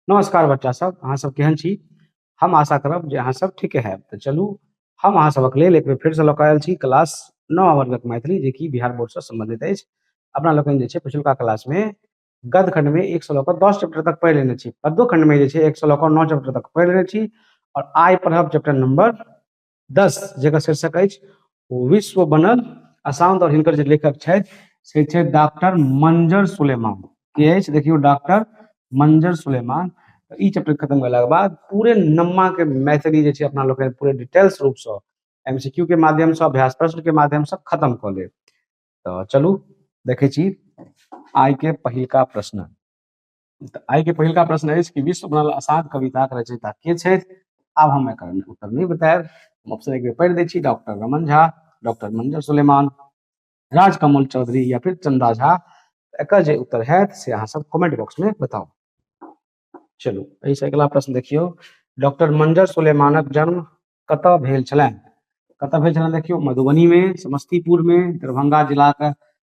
नमस्कार बच्चा सब अहाँ सब केहन छी हम आशा करब जे अहाँ सब ठीके हैब तऽ चलू हम अहाँ सबक लेल एक बेर फेरसँ लऽ कऽ आयल छी क्लास नओ वर्गक मैथिली जेकि बिहार बोर्डसँ सम्बन्धित अछि अपना लोकनि जे छै पिछुलका क्लासमे गद्य खण्डमे एक सए लऽ कऽ दस चैप्टर तक पढ़ि लेने छी पद्यो खण्डमे जे छै एक सए लऽ कऽ नओ चैप्टर तक पढ़ि लेने छी आओर आइ पढ़ब चैप्टर नंबर दस जकर शीर्षक अछि विश्व बनल अशांत और हिनकर जे लेखक छथि से छथि डॉक्टर मंजर सुलेमान के अछि देखियौ डॉक्टर मंजर सुलेमान ई चैप्टर खत्म भेलाके बाद पूरे नम्मा के मैथिली जे छै अपना लोग पूरे डिटेल्स रूप से एमसीक्यू के माध्यम से अभ्यास प्रश्न के माध्यम से खत्म कऽ लेब तऽ चलू देखै छी आइ के पहिलका प्रश्न तऽ आइ के पहिलका प्रश्न अछि कि विश्व बनल असाध कविताक रचयिता के छथि आब हम एकर उत्तर नहि बतायब हम ऑप्शन एक बेर पढ़ि दै छी डॉक्टर रमन झा डॉक्टर मंजर सुलेमान राजकमल चौधरी या फिर चंदा झा एकर जे उत्तर हैत से अहाँ सब कमेंट बॉक्स में बताउ चलू एहिसँ अगिला प्रश्न देखियौ डॉक्टर मंजर सुलेमानक जन्म कतऽ भेल छलनि कतऽ भेल छलनि देखियौ मधुबनी में समस्तीपुर में दरभंगा जिलाक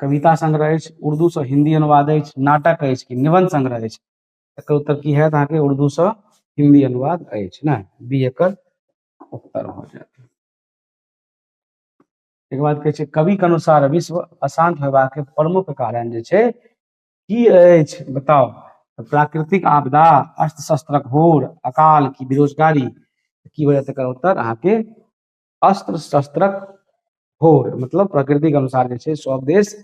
कविता संग्रह अछि उर्दूसँ हिन्दी अनुवाद अछि नाटक अछि कि निबन्ध संग्रह अछि एकर उत्तर की हैत अहाँके उर्दूसँ हिन्दी अनुवाद अछि ने बी एकर उत्तर भऽ जायत एक बाद कहै छै कविक अनुसार विश्व अशांत होयबाक प्रमुख कारण जे छै की अछि बताउ प्राकृतिक आपदा अस्त्र शस्त्रक होर अकाल की बेरोजगारी की वजह तकर उत्तर अहाँके अस्त्र शस्त्रक होर मतलब प्रकृतिक अनुसार जे छै सभ देश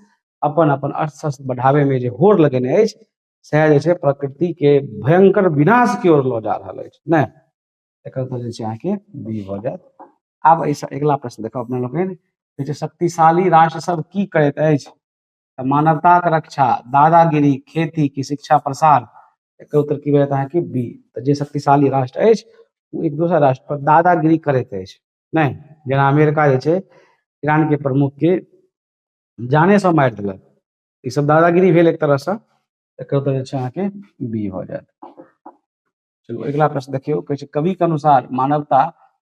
अपन अपन अस्त्र शस्त्र बढ़ाबैमे जे होर लगेने अछि सएह जे छै प्रकृतिके भयंकर विनाशके ओर लऽ जा रहल अछि नहि एकर उत्तर जे छै अहाँके बी भऽ जायत आब एहिसँ अगिला प्रश्न देखब अपना लोकनि जे छै शक्तिशाली राष्ट्र सब की करैत अछि तऽ मानवताक रक्षा दादागिरी खेती की शिक्षा प्रसार एकर उत्तर की भेटत अहाँके बी तऽ जे शक्तिशाली राष्ट्र अछि ओ एक दोसर राष्ट्र पर दादागिरी करैत अछि नहि जेना अमेरिका जे छै ईरानके प्रमुखके जानेसँ मारि देलक ई सब दादागिरी भेल एक तरहसँ एकर उत्तर जे छै अहाँके बी भऽ जायत चलू अगिला प्रश्न देखियौ कहै छै कविके अनुसार मानवता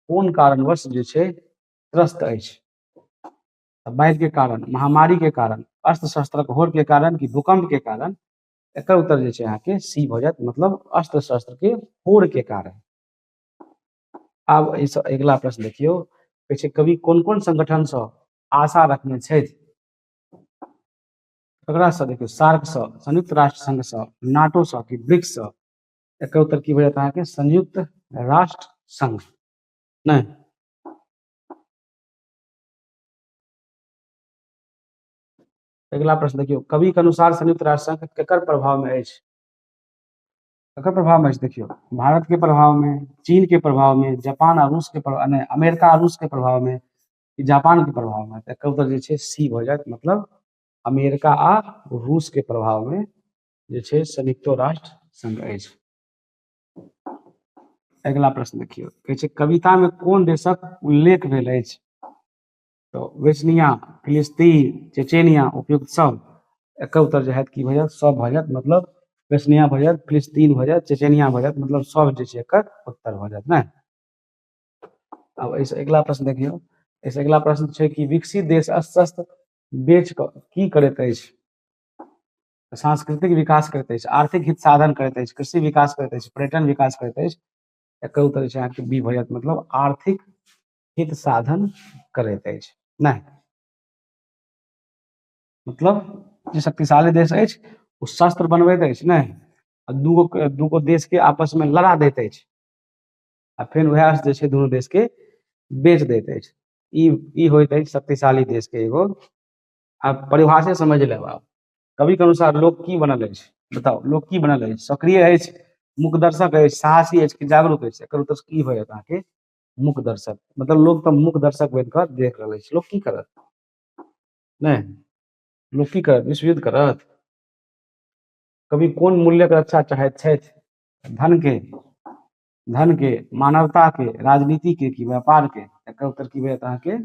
कोन कारणवश जे छै त्रस्त अछि तऽ बाढ़िके कारण महामारीके कारण अस्त्र शस्त्रक होड़के कारण कि भूकम्पके कारण एकर उत्तर जे छै अहाँके सी भऽ जायत मतलब अस्त्र शस्त्रके होड़के कारण आब एहिसँ अगिला प्रश्न देखियौ कहै छै कवि कोन कोन संगठनसँ आशा रखने छथि ककरासँ देखियौ सार्कसँ संयुक्त राष्ट्र संघसँ नाटोसँ कि ब्रिक्ससँ एकर उत्तर की भऽ जायत अहाँके संयुक्त राष्ट्र संघ नहि अगिला प्रश्न देखियौ कवि के अनुसार संयुक्त राष्ट्र संघ केकर प्रभाव में अछि केकर प्रभाव में अछि देखियौ भारत के प्रभाव में चीन के प्रभाव में जापान आ रूस के प्रभाव में अमेरिका आ रूस के प्रभाव में जापान के प्रभाव में एकर उत्तर जे छै सी भ जायत मतलब अमेरिका आ रूस के प्रभाव में जे छै संयुक्तो राष्ट्र संघ अछि अगिला प्रश्न देखियौ कहै छै कविता में कोन देशक उल्लेख भेल अछि तो वेस्निया फिलिस्तीन चेचेनिया उपयुक्त सब एक उत्तर जो है कि भैया सब भऽ जायत मतलब वेस्निया भऽ जायत फिलिस्तीन भऽ जायत चेचेनिया भऽ जायत मतलब सब जे छै एकर उत्तर भऽ जायत ने अब ऐसे अगिला प्रश्न देखियौ ऐसे अगिला प्रश्न छै कि विकसित देश अस्वस्थ बेच की करैत अछि तऽ सांस्कृतिक विकास करैत अछि आर्थिक हित साधन करैत अछि कृषि विकास करैत अछि पर्यटन विकास करैत अछि एकर उत्तर छै अहाँके बी भऽ जायत मतलब आर्थिक हित साधन करैत अछि नहि मतलब जे शक्तिशाली देश अछि ओ शस्त्र बनबैत अछि नहि आ दूगो दूगो देशके आपसमे लड़ा दैत अछि आ फेर उएह जे छै दुनू देशके बेच दैत अछि ई ई होइत अछि शक्तिशाली देशके एगो आ परिभाषे समझि लेब आब कविके अनुसार लोक की बनल अछि बताउ लोक की बनल अछि सक्रिय अछि मुख दर्शक अछि साहसी अछि कि जागरूक अछि एकर उत्तर की होयत अहाँके मुख दर्शक मतलब लोक तऽ मुख दर्शक बनि कऽ देख रहल अछि लोक की करत नहि लोक की करत विश्वयुद्ध करत कवि कोन मूल्यक रक्षा चाहैत छथि धन के धन के मानवता के राजनीति के कि व्यापार के एकर उत्तर की होयत अहाँके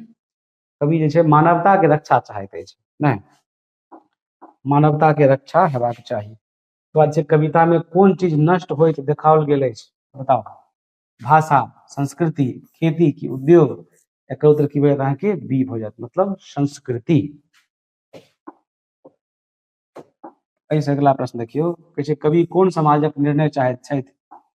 कवि जे छै मानवताके रक्षा चाहैत अछि नहि मानवताके रक्षा हेबाक चाही ओकर बाद छै कवितामे कोन चीज नष्ट होइत देखाओल गेल अछि बताउ भाषा संस्कृति खेती की उद्योग एकर उत्तर की भेल अहाँके बी भऽ जायत मतलब संस्कृति एहिसँ अगिला प्रश्न देखियौ कहै छै कवि कोन समाजक निर्णय चाहैत छथि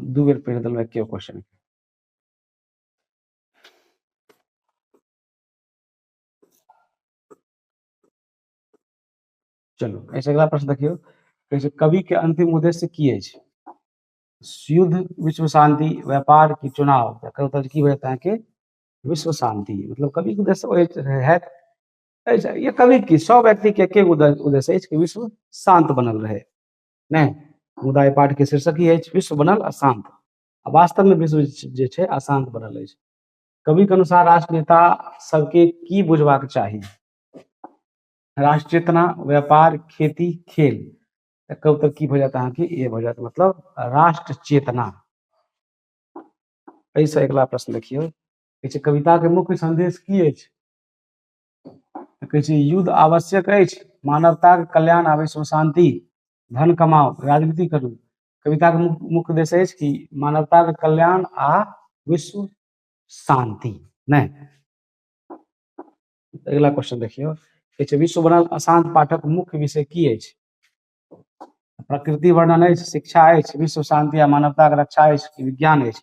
दू बेर पढ़ि देलहुँ एके क्वेश्चन चलू एहिसँ अगिला प्रश्न देखियौ कहै छै कवि के अंतिम उद्देश्य की अछि युद्ध विश्व शांति व्यापार की चुनाव एकर उत्तर की होयत अहाँके विश्व शांति मतलब कवि के उद्देश्य ओहि होयत एहि- ये कवि की सब व्यक्ति के एके उद्देश्य उद्देश्य अछि कि विश्व शांत बनल रहे नहि मुदा एहि पाठके शीर्षक ई अछि विश्व बनल अशांत आ वास्तवमे विश्व जे छै अशांत बनल अछि कविक अनुसार राष्ट्र नेता सबके की बुझबाक चाही राष्ट्र चेतना व्यापार खेती खेल कब तक की भऽ जायत अहाँके ए भऽ जायत मतलब राष्ट्र चेतना एहिसँ अगिला प्रश्न देखियौ कविताके मुख्य संदेश की अछि तऽ कहै छै युद्ध आवश्यक अछि मानवताक कल्याण आ विश्व शान्ति धन कमाउ राजनीति करू कविताके मुख्य मुख्य उद्देश्य अछि कि मानवताके कल्याण आ विश्व शान्ति नहि अगिला क्वेश्चन देखियौ कहै छै विश्व बनल अशांत पाठक मुख्य विषय की अछि प्रकृति वर्णन अछि शिक्षा अछि विश्व शान्ति आ मानवताके रक्षा अछि कि विज्ञान अछि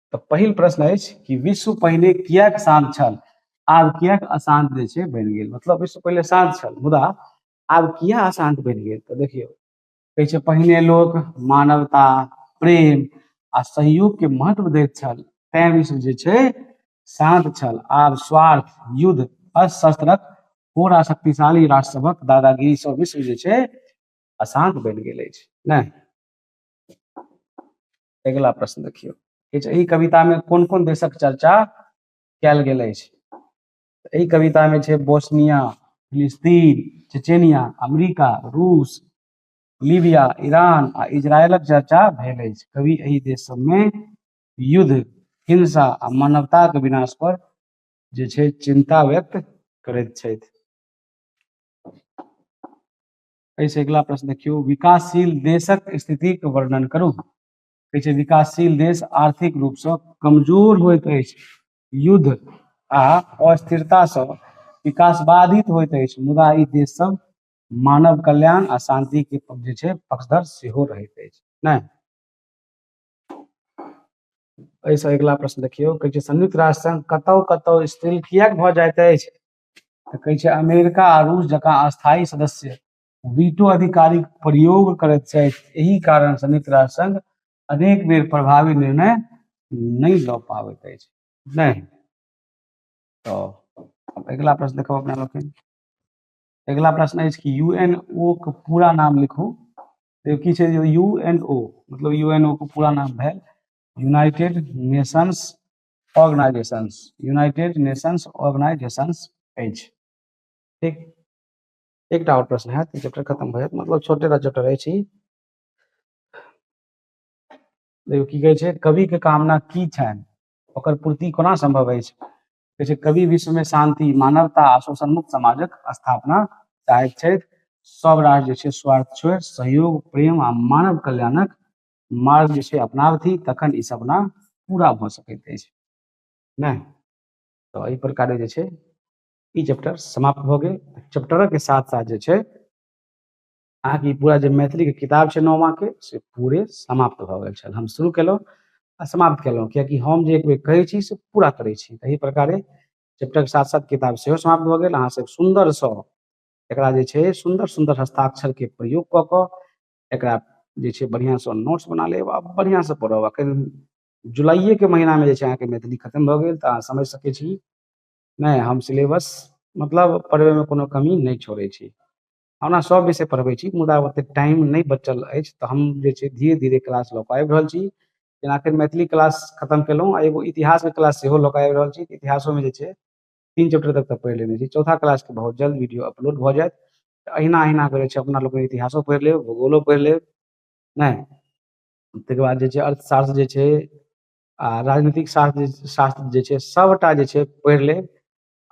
तऽ पहिल प्रश्न अछि कि विश्व पहिले किएक शान्त छल आब किएक अशान्त जे छै बनि गेल मतलब विश्व पहिले शान्त छल मुदा आब किएक अशान्त बनि गेल तऽ देखियौ कहै छै पहिने लोक मानवता प्रेम आ सहयोगके महत्व दैत छल तैँ विश्व जे छै शान्त छल आब स्वार्थ युद्ध अशस्त्रक पूरा शक्तिशाली राष्ट्र सभक दादागिरी सब विश्व जे छै अशान्त बनि गेल अछि नहि अगिला प्रश्न देखियौ किछु एहि कविता में कोन कोन देशक चर्चा कयल गेल अछि एहि कविता में छै बोस्निया फिलिस्तीन चेचेनिया अमेरिका रूस लीबिया ईरान आ इजरायलक चर्चा भेल अछि कवि एहि देश सबमे युद्ध हिंसा आ मानवताक विनाश पर जे छै चिंता व्यक्त करैत छथि एहिसँ अगिला प्रश्न देखियौ विकासशील देशक स्थितिक वर्णन करू कहै छै विकासशील देश आर्थिक रूपसँ कमजोर होइत अछि युद्ध आ अस्थिरतासँ विकास बाधित होइत अछि मुदा ई देश सब मानव कल्याण आ शांति के जे छै पक्षधर सेहो रहैत अछि नहि एहिसँ अगिला प्रश्न देखियौ कहै छै संयुक्त राष्ट्र संघ कतौ कतौ स्थिर किएक भऽ जाइत अछि तऽ कहै छै अमेरिका आ रूस जकाँ अस्थायी सदस्य वीटो अधिकारीक प्रयोग करैत छथि एहि कारण संयुक्त राष्ट्र संघ अनेक बेर प्रभावी निर्णय नहि लऽ पाबैत अछि नहि तऽ अगिला प्रश्न देखब अपना लोकनि अगिला प्रश्न अछि कि यू एन ओ के पूरा नाम लिखू तऽ की छै यू एन ओ मतलब यू एन ओ के पूरा नाम भेल United Nations organisations United Nations organisations अछि ठीक एकटा और प्रश्न है चैप्टर खत्म भए मतलब छोटे टा चैप्टर अछि देखियौ की कहै छै कवि के कामना की छनि ओकर पूर्ति कोना संभव अछि कहै छै कवि विश्व में शांति मानवता आ शोषण मुक्त समाजक स्थापना चाहैत छथि सब राष्ट्र जे छै स्वार्थ छोड़ि सहयोग प्रेम आ मानव कल्याणक मार्ग जे छै अपनाबथि तखन ई सपना पूरा भऽ सकैत अछि नहि तऽ एहि प्रकारे जे छै ई चैप्टर समाप्त भऽ गेल चैप्टरक साथ साथ जे छै अहाँके पूरा जे मैथिलीके किताब छै नौमाके से पूरे समाप्त भऽ गेल छल हम शुरू केलहुँ आ समाप्त केलहुँ कियाकि हम जे एक बेर कहै छी से पूरा करै छी एहि प्रकारे चैप्टरके साथ साथ किताब सेहो समाप्त भऽ गेल अहाँसभ सुन्दरसँ एकरा जे छै सुन्दर सुन्दर हस्ताक्षरके प्रयोग कऽ कऽ एकरा जे छै बढ़िआँसँ नोट्स बना लेब आ बढ़िआँसँ पढ़ब एखन जुलाइएके महीनामे जे छै अहाँके मैथिली खतम भऽ गेल तऽ अहाँ समझि सकै छी नहि हम सिलेबस मतलब पढ़बैमे कोनो कमी नहि छोड़ै छी ओना सभ विषय पढ़बै छी मुदा ओतेक टाइम नहि बचल अछि तऽ हम जे छै धीरे धीरे क्लास लऽ कऽ आबि रहल छी जेना एखन मैथिली क्लास खतम केलहुँ आ एगो इतिहासके क्लास सेहो लऽ कऽ आबि रहल छी इतिहासोमे जे छै तीन चैप्टर तक तऽ पढ़ि लेने छी चौथा क्लासके बहुत जल्द वीडियो अपलोड भऽ जायत तऽ अहिना अहिना करै छै अपना लोकनि इतिहासो पढ़ि लेब भूगोलो पढ़ि लेब नहि ताहिके बाद जे छै अर्थशास्त्र जे छै आ राजनीतिक शास्त्र जे शास्त्र जे छै सभटा जे छै पढ़ि लेब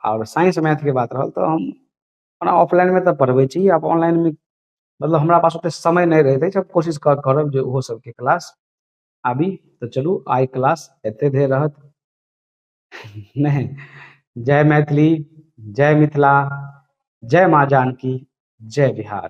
आओर साइंस मैथके बात रहल तऽ हम ओना ऑफलाइनमे तऽ पढ़बै छी आब ऑनलाइनमे मतलब हमरा पास ओतेक समय नहि रहैत अछि हम कोशिश कर करब जे ओहो सभके क्लास आबी तऽ चलू आइ क्लास एते धरि रहत नहि जय मैथिली जय मिथिला जय माँ जानकी जय बिहार